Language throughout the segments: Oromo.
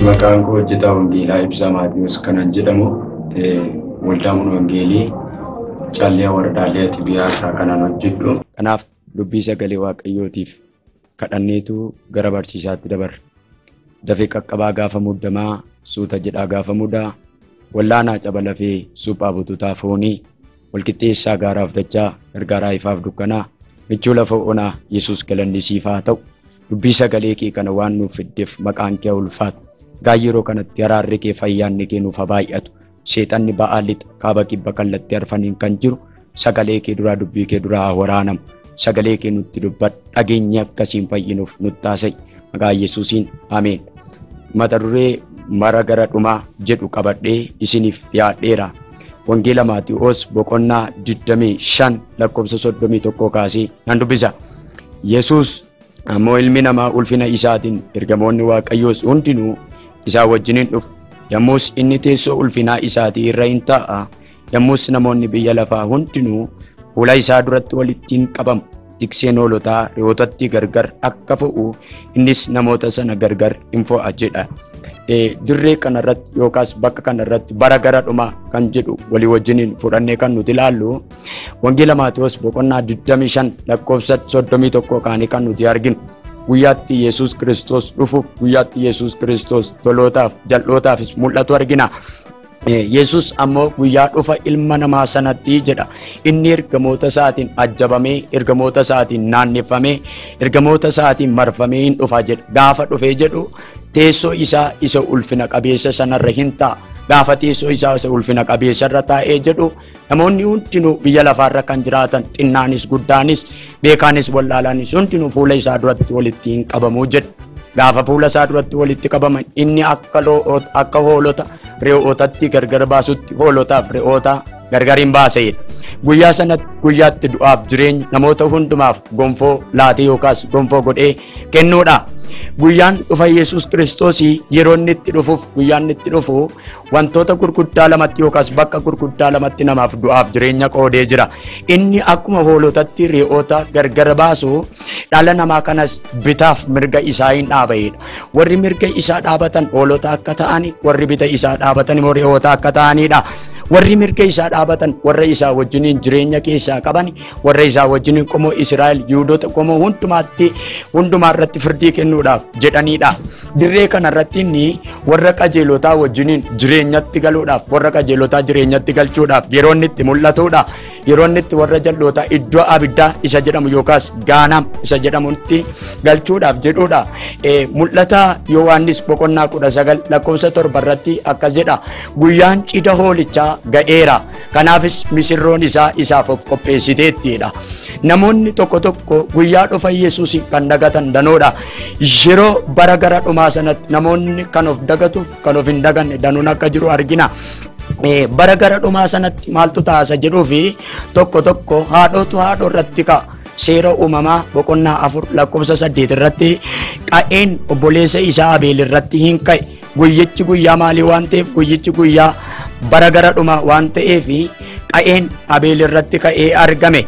Maqaan koo hojjetaa wangeelaa Ibsaa Maatiyoos kanan jedhamu waldaa mana wangeelii Callee Wardaalee Xibiyaa irraa kanan hojjedhu. Kanaaf dubbii sagalee waaqayyootiif kadhanneetu gara barsiisaatti dabarre. Dafee qaqqabaa gaafa muddamaa suuta jedhaa gaafa mudaa wallaanaa caba lafee suphaa bututaa foonii Walqixxeessaa gaaraaf dachaa, gargaaraa ifaaf dukkanaa, michuu lafa onaa, Yesuus galanni siif haa ta'u. Dubbii sagalee kee kana waan nuuf fiddeef maqaan kee ulfaatu. Gaa yeroo kanatti haraarri kee fayyaanni kee nuuf haa baay'atu. Seexanni ba'aa lixa kaaba kibba kallattii arfaniin kan jiru sagalee kee duraa dubbii kee duraa haa waraanamu. sagalee kee nutti dubbadhu dhageenye akkasiin fayyinuuf nutti haasa'i maqaa yesuusiin ameen mata duree mara gara dhumaa jedhu qabadhee isiniif dhiyaadheera wangeela maati'oos boqonnaa 25 lakkoofsa 31 kaasee nan dubbisa yesuus ammoo ilmi namaa ulfina isaatiin ergamoonni waaqayyoos hundinuu isaa wajjiniin dhufu yommus inni teessoo ulfinaa isaatii irra in taa'a Yommus namoonni biyya lafaa hundinuu fuula isaa duratti walitti in qabamu. Tikseen hoolotaa re'ootatti gargar akka fo'u innis namoota sana gargar in fo'a jedha. Dirree kanarratti yookaas bakka kanarratti bara gara dhumaa kan jedhu walii wajjiniin fudhannee kan nuti ilaallu wangeela Maatewos boqonnaa 25 lakkoofsa 31 kaanii kan nuti arginu. Guyyaatti Yesuus Kiristoos dhufuuf guyyaatti Yesuus Kiristoos tolootaaf jal'ootaafis mul'atu argina. Yesus ammoo guyyaa dhufa ilma namaa sanatti jedha inni ergamoota isaatiin ajjabamee ergamoota isaatiin naanneffamee ergamoota isaatiin marfamee hin dhufa jedha gaafa dhufee jedhu teessoo isaa isa ulfina qabeessa sanarra hin ta'a gaafa teessoo isaa isa ulfina qabeessa irra taa'ee jedhu Namoonni hundinuu biyya lafaarra kan jiraatan xinnaanis guddaanis beekaanis wallaalaanis hundinuu fuula isaa duratti walitti hin qabamu jedhe. Gaafa fuula isaa duratti walitti qabaman inni akka lo'oota akka hoolota re'ootatti gargar baasutti hoolotaaf re'oota gargar hin baaseedha. Guyyaa sanatti guyyaatti du'aaf jireenya namoota hundumaaf gonfoo laatee yookaas gonfoo godhee kennuudha. Guyyaan dhufa Yesuus Kiristoos yeroo inni itti dhufuuf guyyaan inni itti dhufu Wantoota gurguddaa lamatti yookaas bakka gurguddaa lamatti namaaf du'aaf jireenya qoodee jira. Inni akkuma hoolotatti re'oota gargar baasu dhala namaa kanas bitaaf mirga isaa hin dhaabaedha. Warri mirga isaa dhaabatan hoolota akka ta'ani, warri bita isaa dhaabatan immoo re'oota akka ta'anidha. Warri mirga isaa dhaabatan warra isaa wajjiniin jireenya keessaa qabani warra isaa wajjin qomoo Israa'el Yihudoota qomoo hundumaatti hundumaa irratti firdii kennuudhaaf jedhaniidha. Dirree kana irratti inni warra qajeelotaa wajjiniin jireenyatti galuudhaaf warra qajeelotaa jireenyatti galchuudhaaf yeroo inni itti mul'atuudha. Yeroo inni itti warra jal'ootaa iddoo abiddaa isa jedhamu yookaas gaanam isa jedhamutti galchuudhaaf jedhuudha. Eh, Mul'ata Yohaannis boqonnaa kudha sagal lakkoofsa torba irratti akkas jedha. Guyyaan cidha hoolichaa ga'eera. Kanaafis misirroon isaa isaaf of qopheessiteetti jedha. Namoonni tokko tokko guyyaa dhufa Yesuus kan dagatan danoodha. Yeroo bara gara dhumaa sanatti namoonni kan of dagatuuf kan of hin daganne danuun akka jiru argina. Eh, Bara gara dhumaa sanatti maaltu taasa jedhuu fi tokko tokko haadhootu haadhoo irratti ka'a. Seera uumamaa boqonnaa afur lakkoofsa saddeet irratti qa'een obboleessa isaa Abeel irratti hin ka'e. Guyyichi guyyaa maalii waan ta'eef guyyichi guyyaa bara gara dhumaa waan ta'eef qa'een Abeel irratti ka'ee argame.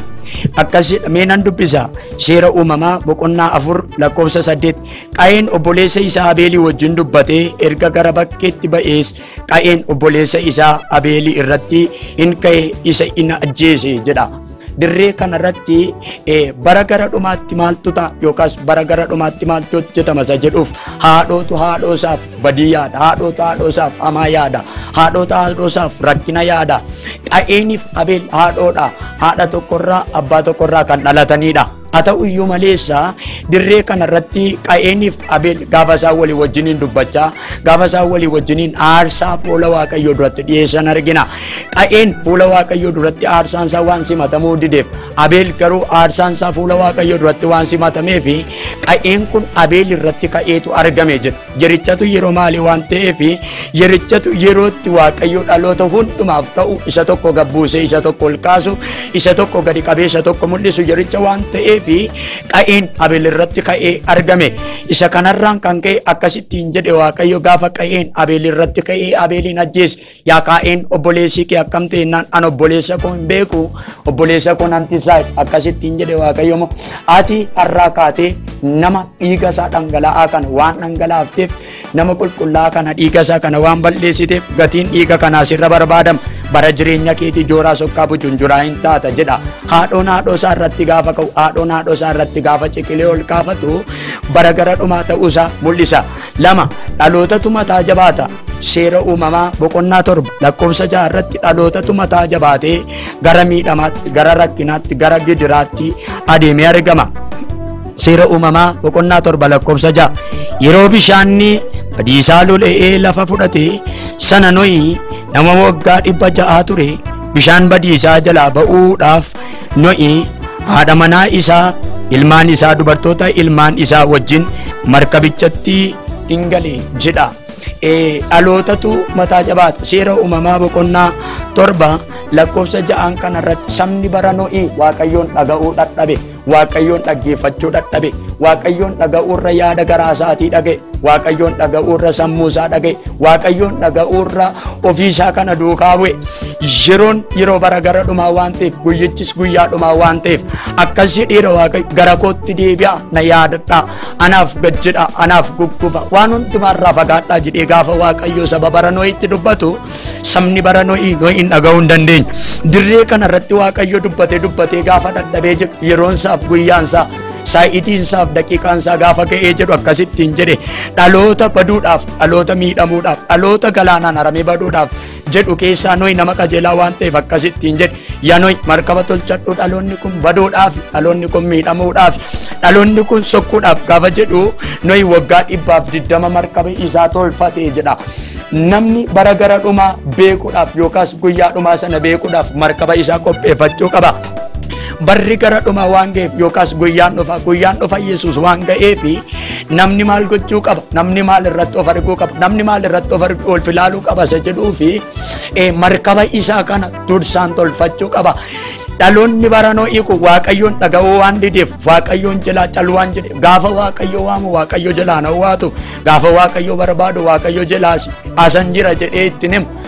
Akkasii mee nan dubbisa seera uumamaa boqonnaa afur lakkoofsa saddeet qa'een obboleessa isaa Abeelii wajjin dubbatee erga gara bakkeetti ba'ees qa'een obboleessa isaa Abeelii irratti in ka'e isa in ajjeese jedha. Dirree kanarratti eh, bara gara dhumaatti maaltu ta'a yookaas bara gara dhumaatti maaltu hojjetama isa jedhuuf haadhootu haadhoo isaaf badii yaada, haadhootu haadhoo isaaf hamaa yaada, haadhootu haadhoo isaaf rakkina yaada. Qa'eeniif Abeel haadhoodha. Haadha tokkorraa abbaa tokkorraa kan dhalatanidha. Haa ta'u iyyuu maleessa dirree kana irratti Qa'eeniif Abeel gaafa isaan walii wajjiniin dubbachaa gaafa isaan walii wajjiniin aarsaa fuula Waaqayyoo duratti dhiyeessan argina. Qa'een fuula Waaqayyoo duratti aarsaan isaa waan simatamuu dideef Abeel garuu aarsaan isaa fuula Waaqayyoo duratti waan simatameef Qa'een kun Abeel irratti ka'eetu argame jedha. Yerichatu yeroo maalii waan ta'eef yerichatu yerootti waaqayyo dhaloota hundumaaf ta'u isa tokko gabbuusee isa tokko ol kaasu isa tokko gadi qabee isa tokko mul'isu yericha waan ta'eef qa'een abel irratti ka'ee argame isa kanarraan kan ka'e akkasittiin jedhe waaqayyo gaafa qa'een abel irratti ka'ee abeliin ajjeese Yaa kaa'een obboleessi kee akkam ta'e jennaan an obboleessa koo hin beeku obboleessa koo nan tisaa akkasitti hin jedhe waaqayyo moo ati har'aa kaatee nama dhiiga isaa dhangala'aa kana waan dhangalaafteef nama qulqullaa'aa kana dhiiga isaa kana waan balleessiteef gatiin dhiiga kanaa sirra barbaadama bara jireenya keetii jooraa sokkaa bujunjuraa hin taata jedha haadhoon haadhoo isaa irratti gaafa ka'u haadhoon haadhoo isaa irratti gaafa ciqilee ol kaafatu bara gara dhumaa ta'uu isaa mul'isa lama dhalootatu mataa jabaata Seera uumamaa boqonnaa torba lakkoofsa ja'a irratti dhalootatu mataa jabaatee gara miidhamaatti, gara rakkinaatti, gara gidiraatti adeemee argama. Seera uumamaa boqonnaa torba lakkoofsa ja'a yeroo bishaanni badiisaa lola'ee lafa fudhate sana nohi nama waggaa dhibba ja'aa ture bishaan badiisaa jalaa ba'uudhaaf nohi haadha manaa isaa ilmaan isaa dubartoota ilmaan isaa wajjin markabichatti in gale jedha. Eh, dhalootatu mataa jabaata seera uumamaa boqonnaa torba lakkoofsa ja'aan kana irratti sabni bara no'ii waaqayyoon dhaga'uu dhadhabe waaqayyoon dhaggeeffachuu dhadhabe waaqayyoon dhaga'uu irra yaada garaa isaatii dhaga'e waaqayyoon dhaga'uu irra sammuu isaa dhaga'e waaqayyoon dhaga'uu irra ofii isaa kana duukaa bu'e yeroon yeroo bara gara dhumaa waan ta'eef guyyichis guyyaa dhumaa waan ta'eef akkasii dhiira waaqayyo gara kootti deebi'a na yaadadhaa anaaf gad jedha anaaf gugguba waan hundumaarraa fagaadhaa jedhee gaafa waaqayyoo saba bara noo'itti dubbatu sabni bara noo'ii noo'iin dhaga'uu hin dandeenye dirree kana irratti waaqayyo dubbatee dubbatee gaafa dadhabee jedhu yeroonsaaf guyyaansaa saa'iitiinsaaf daqiiqaansaa gaafa ga'ee jedhu akkasittiin jedhe dhaloota baduudhaaf dhaloota miidhamuudhaaf dhaloota galaanaan haramee baduudhaaf jedhu keessaa Nohi nama qajeelaa waan ta'eef akkas ittiin jedhe. Yaa Nohi markaba tolchadhu dhaloonni kun baduudhaaf, dhaloonni kun miidhamuudhaaf, dhaloonni kun sokkuudhaaf gaafa jedhu Nohi waggaa dhibbaaf digdama markaba isaa tolfate jedha. Namni bara gara dhumaa beekuudhaaf yookaas guyyaa dhumaa sana beekuudhaaf markaba isaa qopheeffachuu qaba. Barri gara dhuma waan ga'eef yookaas guyyaan dhufa guyyaan dhufa Yesuus waan ga'eef namni maal gochuu qaba namni maal irratti of arguu qaba namni maal irratti of arguu ol filaaluu qaba isa jedhuu fi markaba isaa kana dursaan tolfachuu qaba. Dhaloonni baranoo hiiku waaqayyoon dhaga'uu waan dideef waaqayyoon jalaa caluu waan jedhe gaafa waaqayyo waamu waaqayyo jalaa na waatu gaafa waaqayyo barbaadu waaqayyo jalaas asan jira jedhee ittiin himu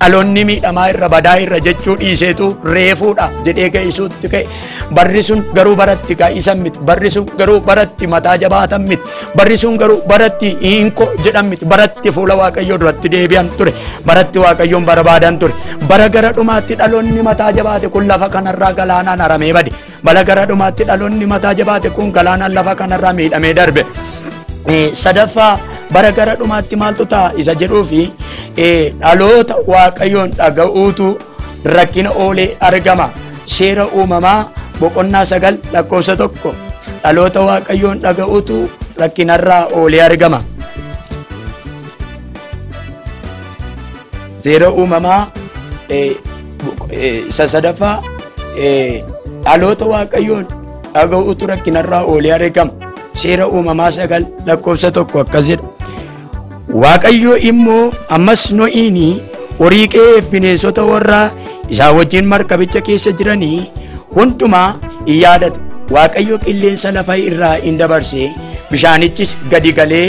Dhaloonni miidhamaa irra badaa irra jechuu dhiiseetu reefuudha jedhee ka'isuutti ka'e. Barri sun garuu baratti kaa'isan miti. Barri sun garuu baratti mataa jabaatan miti. Barri sun garuu baratti hiinko jedhan miti. Baratti fuula Waaqayyoo duratti deebi'an ture. Baratti Waaqayyoon barbaadan ture. Bara gara dhumaatti dhaloonni mataa jabaate kun lafa kanarraa galaanaan haramee bade. Bala gara dhumaatti dhaloonni mataa jabaate kun galaanaan lafa kanarraa miidhamee darbe. Sadaffaa bara gara dhumaatti maaltu ta'a isa jedhuu fi dhaloota waaqayyoon dhaga'uutu rakkina oolee argama. Seera uumamaa boqonnaa sagal lakkoofsa tokko dhaloota waaqayyoon dhaga'uutu rakkinarraa oolee argama. Seera uumamaa Isa sadaffaa dhaloota waaqayyoon dhaga'uutu rakkinarraa oolee argama. Seera uumamaa sagal lakkoofsa tokko akkas jedha. Waaqayyo immoo ammas no'iini horii qe'ee bineensota warraa isaa wajjin markabicha keessa jiranii hundumaa in yaadata. Waaqayyo qilleensa lafa irraa in dabarse bishaanichis gadi galee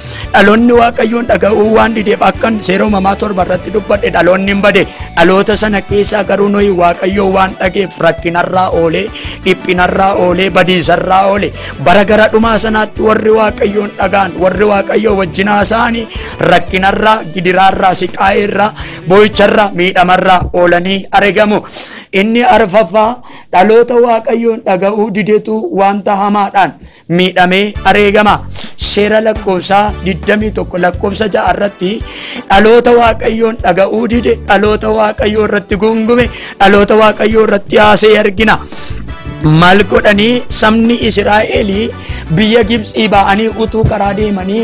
Dhaloonni Waaqayyoon dhaga'uu waan dideef akkan seera uumamaa torba irratti dubbadhe dhaloonni hin bade. Dhaloota sana keessaa garuu nuyi Waaqayyoo waan dhageef rakkinarraa oolee, dhiphinarraa oolee, badiisarraa oolee. Bara gara dhumaa sanaatti warri Waaqayyoon dhagaan, warri Waaqayyoo wajjin haasa'anii rakkinarraa, gidiraarraa, siqaa'eerraa, boo'icharraa, miidhamarraa oolanii argamu. Inni arfaffaa dhaloota Waaqayyoon dhaga'uu didetu wanta hamaadhaan miidhamee areegama. Seera lakkoofsaa 21 lakkoofsa 6 irratti dhaloota waaqayyoon dhaga'uu dide dhaloota waaqayyoo irratti gungume dhaloota waaqayyoo irratti haasee argina. Maal godhanii sabni Israa'elii biyya Gibxii ba'anii utuu karaa deemanii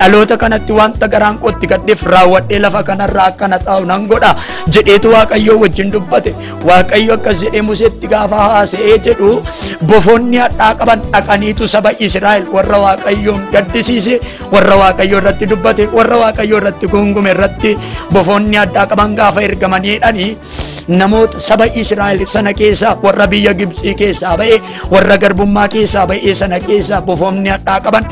dhaloota kanatti wanta garaan koo itti gaddeef raawwadhee lafa kanarraa akka na taa'u nan godha jedheetu waaqayyoo wajjin dubbate waaqayyo akkas jedhee museetti gaafa haasa'ee jedhu bofoonni hadhaa qaban dhaqaniitu saba israa'el warra waaqayyoon gaddisiise warra waaqayyo irratti dubbate warra waaqayyo irratti gungume irratti bofoonni hadhaa qaban gaafa ergamanii jedhanii namoota saba israa'el sana keessaa warra biyya gibxii keessaa ba'e warra garbummaa keessaa ba'e sana keessaa bofoonni hadhaa qaban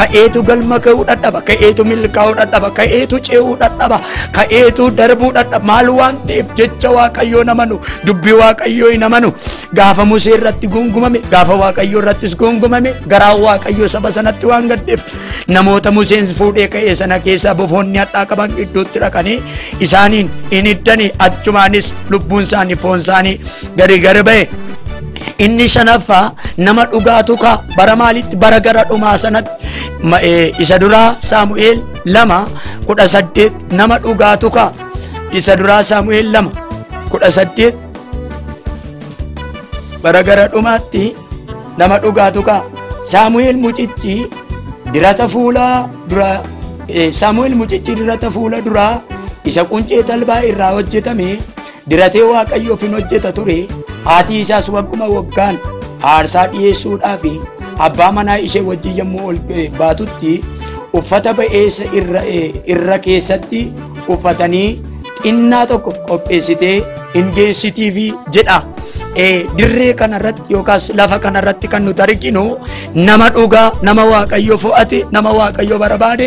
Ka'eetu galma ga'uu dhadhaba. Ka'eetu milkaa'uu dhadhaba. Ka'eetu ce'uu dhadhaba. Ka'eetu darbuu dhadhaba. Maal waan ta'eef jecha Waaqayyoo hin amanu. Dubbii Waaqayyoo hin amanu. Gaafa Musee irratti gungumame, gaafa Waaqayyoo irrattis gungumame, garaa Waaqayyoo saba sanatti waan gaddeef namoota Museen fuudhee ka'e sana keessaa bofoonni hadhaa qaban gidduutti dhaqanii isaaniin hin hiddanii achumaanis lubbuun isaanii foon isaanii gari gari ba'e. Inni shanaffaa nama dhugaa tuka bara maalitti bara gara dhumaa sanatti ma- eh, isa duraa Saamu'eel lama kudha saddeet nama dhugaa tuka isa duraa Saamu'eel lama kudha saddeet bara gara dhumaatti nama dhugaa tuka Saamu'eel mucichi dirata fuula dura eh, Saamu'eel mucichi dirata fuula duraa isa quncee talbaa irraa hojjetame Diratee Waaqayyoof in hojjeta ture, haatii isaas wagguma waggaan aarsaa dhi'eessuudhaa fi abbaa manaa ishee wajjin yommuu ol baatutti uffata ba'eessa irra, irra keessatti uffatanii xinnaa tokko qopheessitee in geessitiifi jedha. Eh, dirree kanarratti yookaas lafa kanarratti kan nuti arginu nama dhugaa, nama waaqayyo fo'ate, nama waaqayyo barbaade,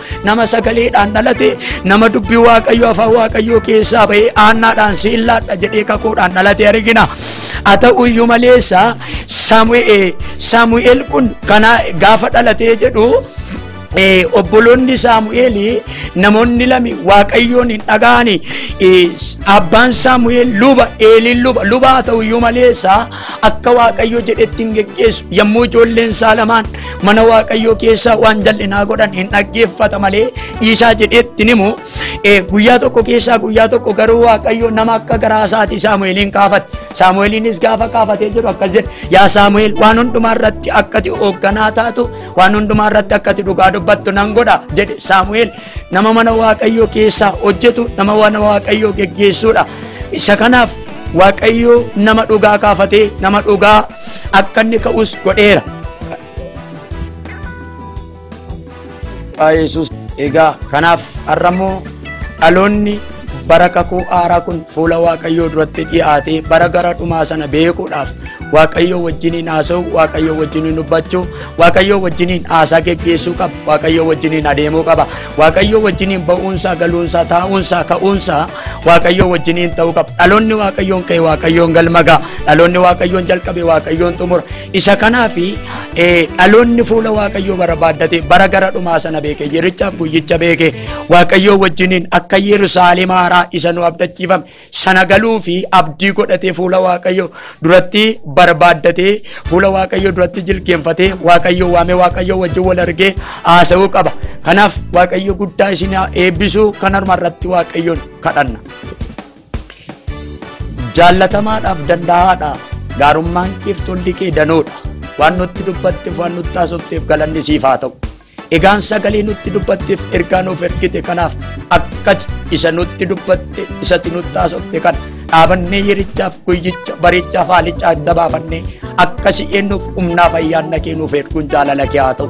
nama sagaleedhaan dhalate nama dubbii waaqayyo afaan waaqayyoo keessaa ba'ee aannaadhaan siillaadha jedhee kakuudhaan dhalate argina haa ta'u iyyuu maleessa saamu'eel saamu'eel kun kana gaafa dhalatee jedhu Eh, obboloonni saamu'eel namoonni lami waaqayyoon hin dhaga'ani Eh, s- abbaan saamu'eel luba eeliin luba luba haa ta'u iyyuu maleessa akka waaqayyo jedhetti hin geggeessu yommuu ijoolleen isaa lamaan mana waaqayyoo keessaa waan jal'inaa godhan hin dhaggeeffata malee dhiisaa jedhetti himu guyyaa tokko keessaa guyyaa tokko garuu waaqayyo nama akka garaa isaatii saamu'eeliin kaafate saamu'eeliinis gaafa kaafatee jedhu akkas jedhe yaa saamu'eel waan hundumaa irratti akkati hoogganaa taatu waan hundumaa irratti akkati dhugaa dubbattu nan godha jedhe saamu'eel nama mana waaqayyoo keessaa hojjetu nama mana waaqayyoo geggeessuudha isa kanaaf waaqayyoo nama dhugaa kaafatee nama dhugaa akka inni ka'us godheera Maqaa Yesuus egaa kanaaf har'a immoo dhaloonni bara kakuu haaraa kun fuula waaqayyoo duratti dhiyaatee bara gara dhumaa sana beekuudhaaf waaqayyoo wajjiniin haasa'u waaqayyoo wajjiniin dubbachuu waaqayyoo wajjiniin haasaa geggeessuu qaba waaqayyoo wajjiniin adeemuu qaba waaqayyoo wajjiniin ba'uunsaa galuunsaa taa'uunsaa ka'uunsaa waaqayyoo wajjiniin ta'uu qaba dhaloonni waaqayyoon ka'e waaqayyoon galmagaa dhaloonni waaqayyoon jalqabe waaqayyoon xumura Isa kanaaf dhaloonni fuula Waaqayyoo barbaaddate bara gara dhumaa sana beeke yerichaaf guyyicha beeke Waaqayyoo wajjiniin akka Yerusaalem haaraa isa nu abdachiifame sana galuu fi abdii godhatee fuula Waaqayyoo duratti barbaaddatee fuula Waaqayyoo duratti jilgeenfatee Waaqayyoo waamee Waaqayyoo wajjin wal argee haasa'uu qaba. Kanaaf Waaqayyo guddaa isin haa eebbisu kan harma irratti Waaqayyoon kadhanna. Jaallatamaadhaaf danda'aadha. Gaarummaan keef tolli kee danoodha. Waan nutti dubbatteef waan nutti haasofteef galanni siif haa ta'u. Egaan sagalee nutti dubbatteef ergaa nuuf ergite kanaaf akkati isa nutti dubbatte isatti nutti haasofte kana dhaabannee yerichaaf guyyicha barichaaf haalicha adda baafannee akkasi eennuuf humnaaf ayyaanna kee nuuf erguun jaalala kee haa ta'u.